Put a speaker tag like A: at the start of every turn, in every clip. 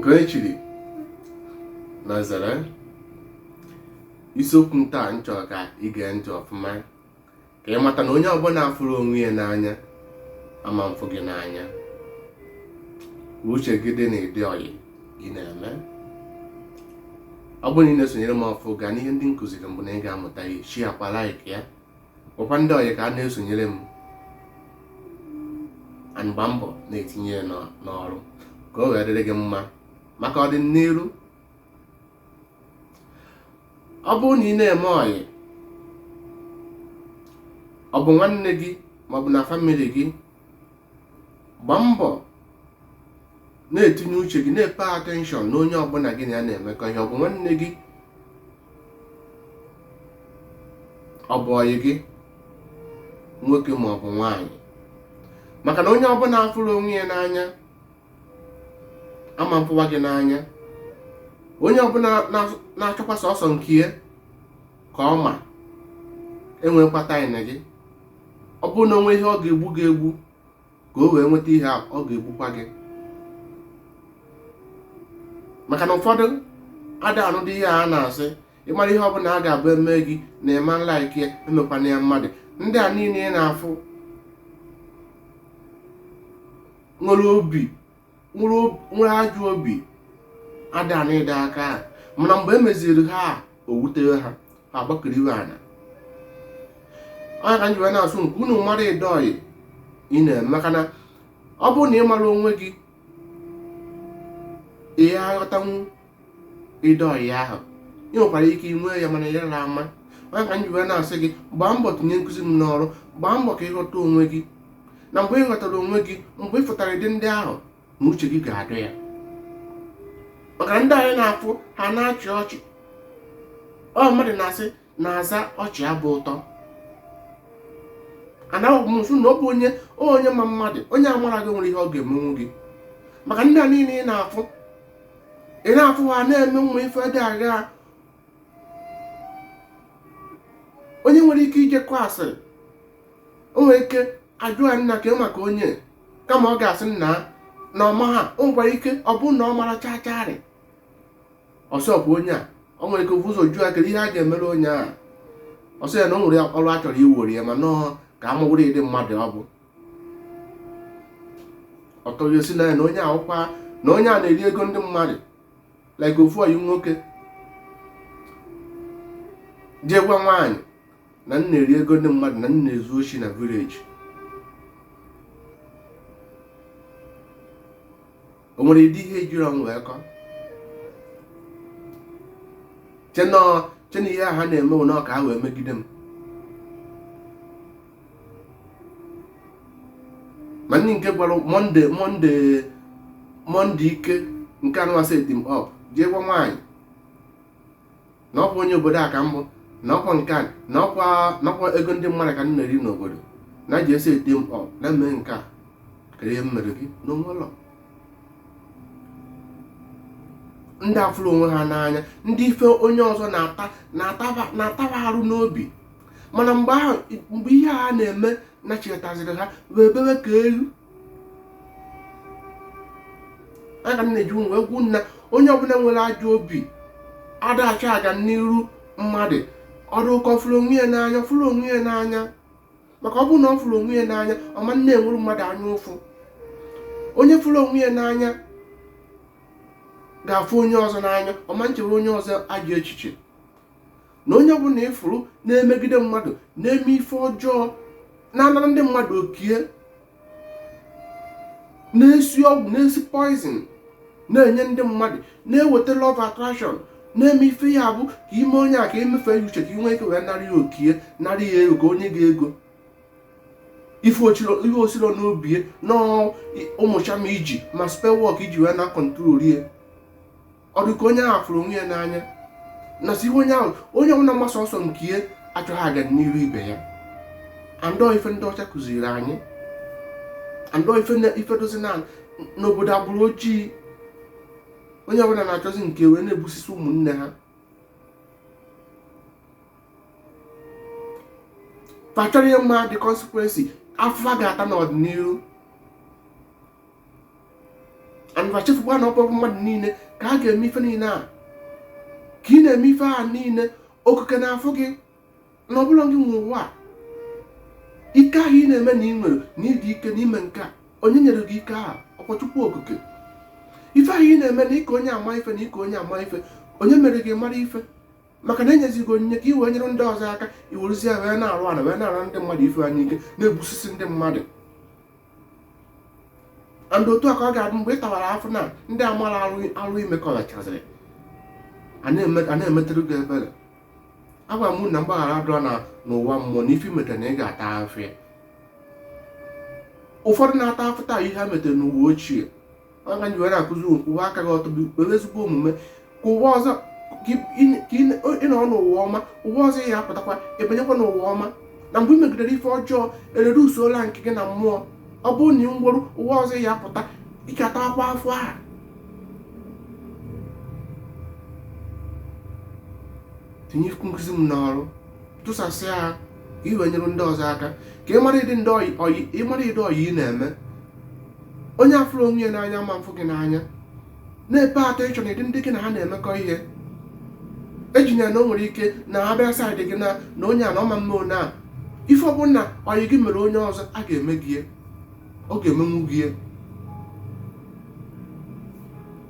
A: nke onye chiri nya zere isiokwu m taa m chọrọ ka ị gee ntị ọfụma ka ị mata na onye ọbụla afụrọ onwe ya n'anya ama mfụ gị n'anya uche gị dị na ụdị ọyị ị na-eme ọ bụrụ na ị na-esonyere m ọfụ gaa n'ihe ndị m kụziri mbụ na ị ga-amụta ya shịakwa laik ya gwakwa ndị ọyị ka ha na-esonyere m and gbaa mbọ na-etinye ya n'ọrụ ka o wee dịrị gị mma maka ọdịnihu ọ bụrụ na ị na-eme ọyị ọ bụ nwanne gị maọbụ na famili gị gbaa mbọ na-etinye uche gị na-epe atenshọn na onye ọbụla gị na ya na-emekọ ihe ọ bụ nwanne gị ọ bụ ọyị gị nwoke ma ọ bụ nwaanyị maka na onye ọbụla afụrọ onwe ya n'anya ama mfụwa gị n'anya onye ọbụla na-achọkwa sọsọ nke ya ka ọ ma enwekwa taịm gị ọ bụrụ na o nwee ihe ọ ga-egbu gị egbu ka o wee nweta ihe a ọ ga-egbukwa gị maka na ụfọdụ ada anụdị ihe a na-asị ị mara ihe ọbụla a ga-abụ e mee gị na ị ma nlaiki ya emekwana ya mmadụ ndị a niile ị na-afụ nwere obi nwere ajọ obi ada na ịda aka ha mana mgbe e meziri ha o wute ha ha gbakiriwe ana ọ nya ka m ji wee na-asị ka unu mara ụdị ọyị ị na-eme maka na ọ bụrụ na ị mara onwe gị ị ya-aghọtanwu ụdị ọyị ahụ ị nwekwara ike inwe ya mana ya na ama ọ nya ka m ji wee na-asị gị gbaa mbọ tinye nkụzi m n'ọrụ gbaa mbọ ka ị ghọta onwe gị na mgbe ị ghọtara onwe gị mgbe ị fụtara ụdị ndị ahụ na uche gị ga-adị ya maka ndị anyị na-afụ ha na-achị ọchị ọ mmadụ na-asị na-asị ọchị abụ ụtọ ana m asị na ọ bụ onye onye ma mmadụ onye amara gị nwere ihe ọ ga-emenwu gị maka ndị a niile ị na-afụ ị na-afụ ha na-eme nwa ife dị agha onye nwere ike ije asịrị o nwere ike a jụọ ya nna ka maka onye kama ọ ga-asị nna na ọ ma ha o nwekwara ike ọ bụ na ọ mara chacharị ọ sị ọkwa onye a o nwere ike o vu ụzọ jụọ ya kedu ihe a ga-emere onye a ọ sị ya na o nwere ọrụ a chọrọ iwere ya mana ọ ka a mara ụdị mmadụ ọ bụ ọtọghị ọ sị na ya na onye a ọkwa na onye a na-eri ego ndị mmadụ like ofu ọyị nwoke jee gwa nwaanyị na m na-eri ego ndị mmadụ na m na-ezu oshi na village o nwere ụdị ihe e jiri ọnụ wee kọọ chena ihe a ha na-eme ụna ka ha wee megide m ma ndị nke gwara monday monday monday ike nke anụmasị e team up jee gwa nwaanyị na ọkwa onye obodo a ka m bụ na ọkwa nke a na ọkwa nakwa ego ndị mmadụ ka m na-eri n'obodo na ji esi ete m ọ na mee nke a kedu ihe m mere gị na o nwelu ndị afụrọ onwe ha n'anya ndị ife onye ọzọ na-ataba arụ n'obi mana mgbe ihe a na-eme nachetaziri ha wee bewe ka ewu ana m na-eji wee gwa unu na onye ọbụla nwere ajọ obi ada achọ aga n'iru mmadụ ọ dị ka ọ fụrụ onwe ya n'anya ọ fụrọ onwe ya n'anya maka ọ bụrụ na ọ fụrụ onwe ya n'anya ọ ma na-enwere mmadụ anya ụfụ onye fụrụ onwe ya n'anya ga-afụ onye ọzọ n'anya ọ ma na-echere onye ọzọ ajọ echiche na onye ọbụla ị fụrụ na-emegide mmadụ na-eme ife ọjọọ na-anara ndị mmadụ okie na-esi ọgwụ na-esi poison na-enye ndị mmadụ na-eweta love attraction na-eme ife ya bụ ka i mee onye a ka i mefee ya uche ka i nwee ike wee nara ya okie nara ya ego ka o nye gị ego ife o siro n'obi na ọ bụ charm i ji ma spell work i ji wee na-control ya ọ dị ka onye ahụ fụrụ onwe ya n'anya na si ihe onye ahụ onye ọbụla mgbasa ọsọ nke ya achọghị aga n'iru ibe ya and ọ ife ndị ọcha kụziri anyị and ọ ife na- ife dịzi na n'obodo agbụrụ ojii onye ọbụla na-achọzi nke wee na-egbusisi ụmụnne ha fa achọrọ ịma the consequences afụfụ fa ga-ata n'ọdịnihu and fa echefukwa na ọ bụrọ mmadụ niile ka a ga-eme ife niile a ka ị na-eme ife a niile okike na-afụ gị na ọ bụrọ gị nwe ụwa ike ahụ ị na-eme na i nwere na ị dị ike na i me nke a onye nyere gị ike ahụ ọkwa chukwu okike ife ahụ ị na-eme na ị ka onye ama ife na ị ka onye ama ife onye mere gị mara ife maka na e nyezi gị onyinye ka i wee nyere ndị ọzọ aka i werezi ya wee na-arụ ala wee na-arụ ndị mmadụ ife anya ike na-egbusisi ndị mmadụ and otu a ka ọ ga-adị mgbe ị tawara afụfụ na ndị amara arụ ime ka ọ gachaziri a na-emetụrụ gị ebere agwa m na mgbaghara adịrọ na n'ụwa mmụọ na ife i meta na ị ga-ata afụfụ ya ụfọdụ na-ata afụfụ taa ihe ha metere n'ụwa ochie ọ ka m ji were akụzi unu kwụwa aka gị ọtọ were ezigbo omume ka ụwa ọzọ ka ị nọ n'ụwa ọma ụwa ọzọ ị ya-apụtakwa i binyekwa n'ụwa ọma na mgbe ị megidere ife ọjọọ erere usola nke gị na mmụọ ọ bụrụ na ị nwụrụ ụwa ọzọ ị ya-apụta ị ga-atakwa afụfụ ya tinye nkụzi m n'ọrụ tụsasịa ha ka ị wee nyere ndị ọzọ aka ka ị mara ụdị ndị ọyị ọyị- ị mara ụdị ọyị ị na-eme onye afụrọ onwe ya n'anya ama-afụ gị n'anya na-epe atọ ịchọ na ụdị ndị gị na ha na-emekọ ihe ejina ya na o nwere ike na ọ bịa side gị na na onye a na ọ ma-eme one a ife ọbụla na ọyị gị mere onye ọzọ ọ ga-eme gị ya. ọ ga-emenwu gị ya.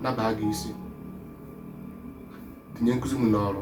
A: nya baa gị isi tinye nkụzi m n'ọrụ